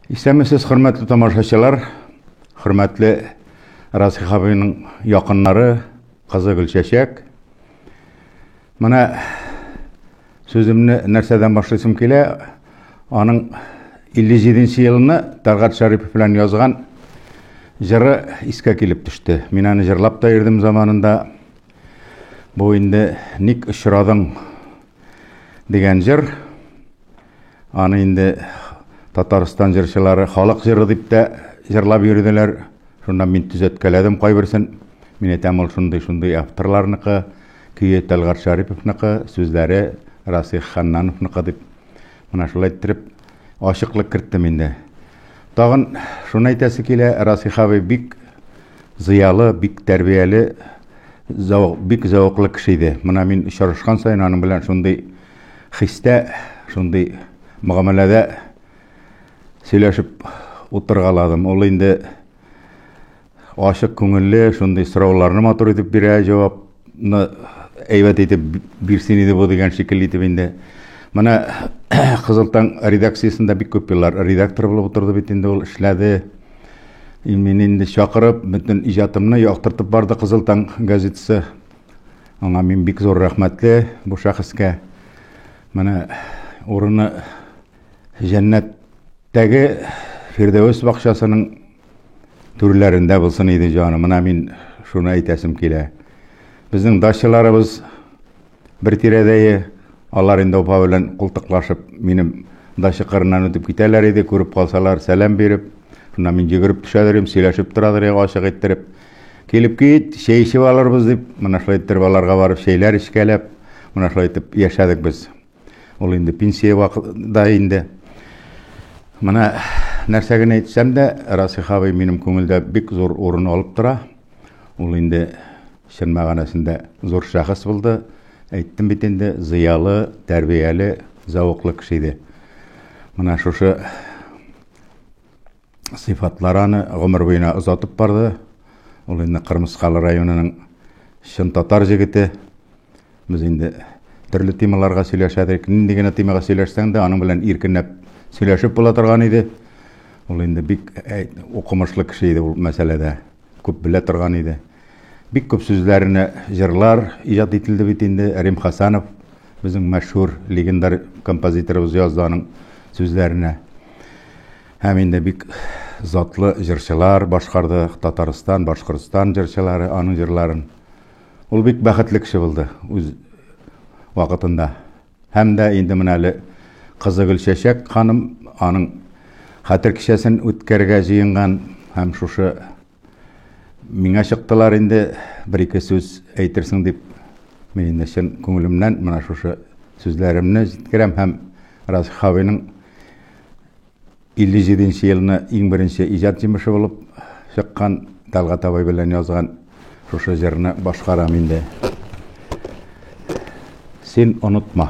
Исәнмесез, хөрмәтле тамашачылар, хөрмәтле Расих абыйның якыннары, кызы Гөлчәчәк. Менә сүземне нәрсәдән башлыйсым килә? Аның 57 елны Тәлгат Шәрипов белән язган җыры искә килеп төште. Мин аны җырлап та йөрдем заманында. Бу инде ник очрадың дигән җыр. Аны инде Татарстан җырчылары халык җыры дип тә җырлап йөрделәр. Шуннан мин төзәткәләдем кайберсен. Мин әйтәм, ул шундый-шундый авторларныкы, көе Тәлгать Шариповныкы, сүзләре Расих Ханнановныкы дип. Менә шулай иттереп ачыклык керттем инде. Тагын шуны әйтәсе килә, Расих абый бик зыялы, бик тәрбияле, бик зәвыклы кеше иде. Менә мин очрашкан саен аның белән шундый хистә, шундый мөгамәләдә сөйләшеп утыргаладым. Ул инде ачык күңелле, шундый сорауларны матур итеп бирә, җавапны әйбәт итеп бирсен иде бу дигән шикелле итеп инде. Менә Кызыл таң редакциясендә бик күп еллар редактор булып утырды бит инде ул эшләде. Мин инде чакырып, бөтен иҗатымны яктыртып барды Кызыл таң газетасы. Аңа мин бик зур рәхмәтле бу шәхескә. Менә урыны җәннәттәге Фирдәвес бакчасының түрләрендә булсын иде җаны. Менә мин шуны әйтәсем килә. Безнең дачаларыбыз бер тирәдәе, алар инде опа белән култыклашып, минем дача кырыннан үтеп китәләр иде, күреп калсалар, сәлам биреп, шуннан мин йөгереп төшәдер идем, сөйләшеп торадыр идек ачык иттереп. Килеп кит, чәй эчеп алырбыз, дип, менә шулай иттереп аларга барып чәйләр эчкәләп, менә шулай итеп яшәдек без. Ул инде пенсия вакытында инде. Менә нәрсә генә әйтсәм дә, Расих абый минем күңелдә бик зур урын алып тора. Ул инде чын мәгънәсендә зур шәхес булды. Әйттем бит инде, зыялы, тәрбияле, зәвыклы кеше иде. Менә шушы сыйфатлары аны гомер буена озатып барды. Ул инде Кырмыскалы районының чын татар җегете. Без инде төрле темаларга сөйләшәдек. Нинди генә темага сөйләшсәң дә, аның белән иркенләп сөйләшеп була торган иде. Ул инде бик укымышлы кеше иде ул мәсьәләдә. Күп белә торган иде. Бик күп сүзләренә җырлар иҗат ителде бит инде. Рим Хасанов безнең мәшһүр легендар композиторыбыз язды аның сүзләренә. Һәм инде бик затлы җырчылар башкарды, Татарстан, Башкортстан җырчылары аның җырларын. Ул бик бәхетле кеше булды үз вакытында. Һәм дә инде менә әле кызы Гөлчәчәк ханым аның хәтер кичәсен үткәрергә җыенган һәм шушы Миңа чыктылар инде, бер-ике сүз әйтерсең дип, мин инде чын күңелемнән менә шушы сүзләремне җиткерәм һәм Раз Хавиның 57 нче елны иң беренче иҗат җимеше булып чыккан Талгат абый белән язган шушы җырны башкарам инде. Син онытма.